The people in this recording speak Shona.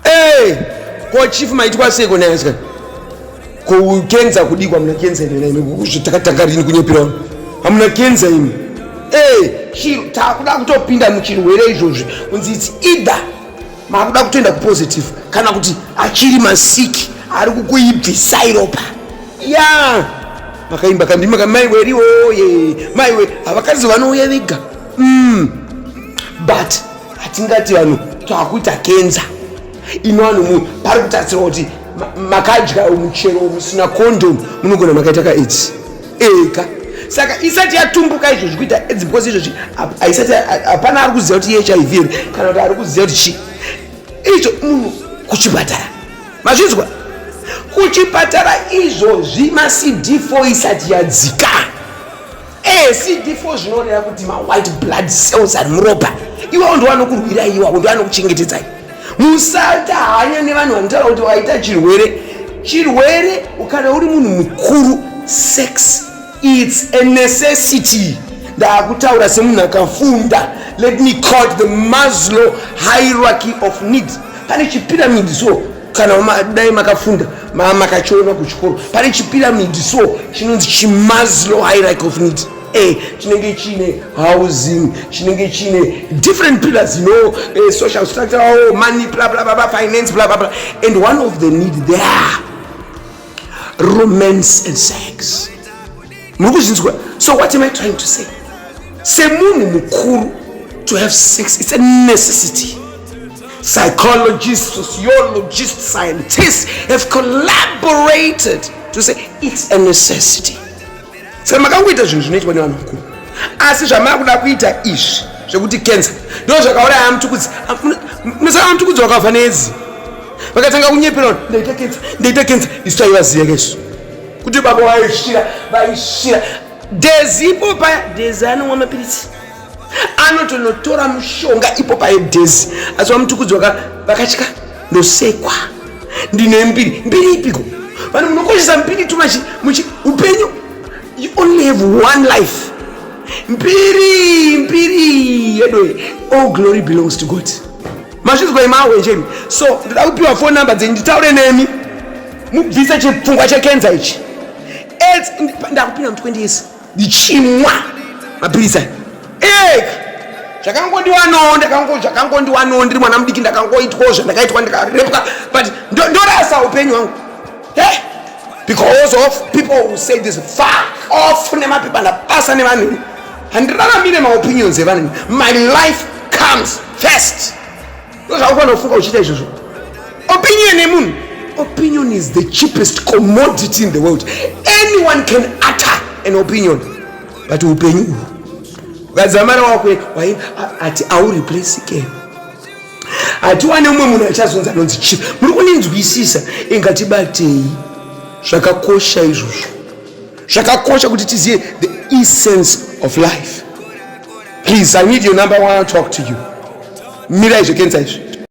Hey, ko chief maitwa sei kona yaska? Ko ukenza kudikwa mna kenza ine ine kuzvitakatanga rini kunyepira. Hamuna kenza ine. Hey, chiro takuda kutopinda muchirwere izvozvi. Kunzi it's either makuda kutoenda kupositive kana kuti achiri masiki ari kukuibvisai ropa. Yeah. Makaimba kandima kamai weri oye. Mai we, havakazi vanouya vega. Mm. But hatingati vanhu twakuita kenza ino vanhu mu pari kutarisirwa kuti makadya muchero musina condom munogona makaita ka aids ega saka isati yatumbuka izvozvi kuita aids because izvozvi haisati hapana ari kuziva kuti hiv here kana kuti ari kuziva kuti chii izvo munhu kuchipatara mazvinzwa kuchipatara izvozvi macd 4 isati yadzika Eh, CD4 zvinoreva kuti ma white blood cells ari muropa iwawo ndo anokurwira iwawo ndo anokuchengetedzai musata hanya nevanhu vanotaura kuti waita chirwere chirwere kana uri munhu mukuru sex its a necessity ndakutaura semunhu akafunda let me call the maslow hierarchy of need pane chipiramidi so kana ma, dai makafunda ma, makachiona kuchikoro pane chipiramidi so chinonzi chimaslow hierarchy of need a chinenge chiine housing chinenge chiine different pillars you know uh, social structure oh, money bla bla bla finance bla bla bla and one of the need there romance and sex muri kuzvinzwa so what am i trying to say semunhu mukuru to have sex it's a necessity psychologists sociologists scientists have collaborated to say it's a necessity saka makangoita zvinhu zvinoitwa nevanhu vakuru asi zvamakuda kuita izvi zvekuti cancer ndo zvakauraya amutukudzi munosaka amutukudzi wakavha nedzi vakatanga kunyepera ndaita cancer ndaita cancer isu taivaziva kaisu kuti baba vaishira vaishira dhezi ipo paya dhezi anomwa mapiritsi anotonotora mushonga ipo paye dhezi asi vamutukudzi vakatya ndosekwa ndine mbiri mbiri ipiko vanhu munokoshesa mbiri tu muchi upenyu you only have one life mbiri mbiri yedoe all glory belongs to god mazvinzwa imawenjemi so ndoda kupiwa phone number dzenyu nditaure nemi mubvise chipfungwa chekenza ichi aids ndakupinda mu 20 years ndichimwa mapirisa ek zvakangondiwano ndakango zvakangondiwano ndiri mwana mudiki ndakangoitwawo zvandakaitwa ndikarepwa but ndorasa upenyu hwangu hey! because of people who say this fuck off nemapepa ndapasa nevanhu handiraramire maopinions evanhu my life comes first ndozvakufanira kufunga uchiita izvozvo opinion yemunhu opinion is the cheapest commodity in the world anyone can utter an opinion but upenyu uhu ukadzamara wakwe wai ati aureplacike hatiwane umwe munhu achazonzi anonzi chief muri kuninzwisisa ingatibatei zvakakosha izvozvo zvakakosha kuti tizive the essence of life please i need your number i want to talk to you mira izvi kenza izvi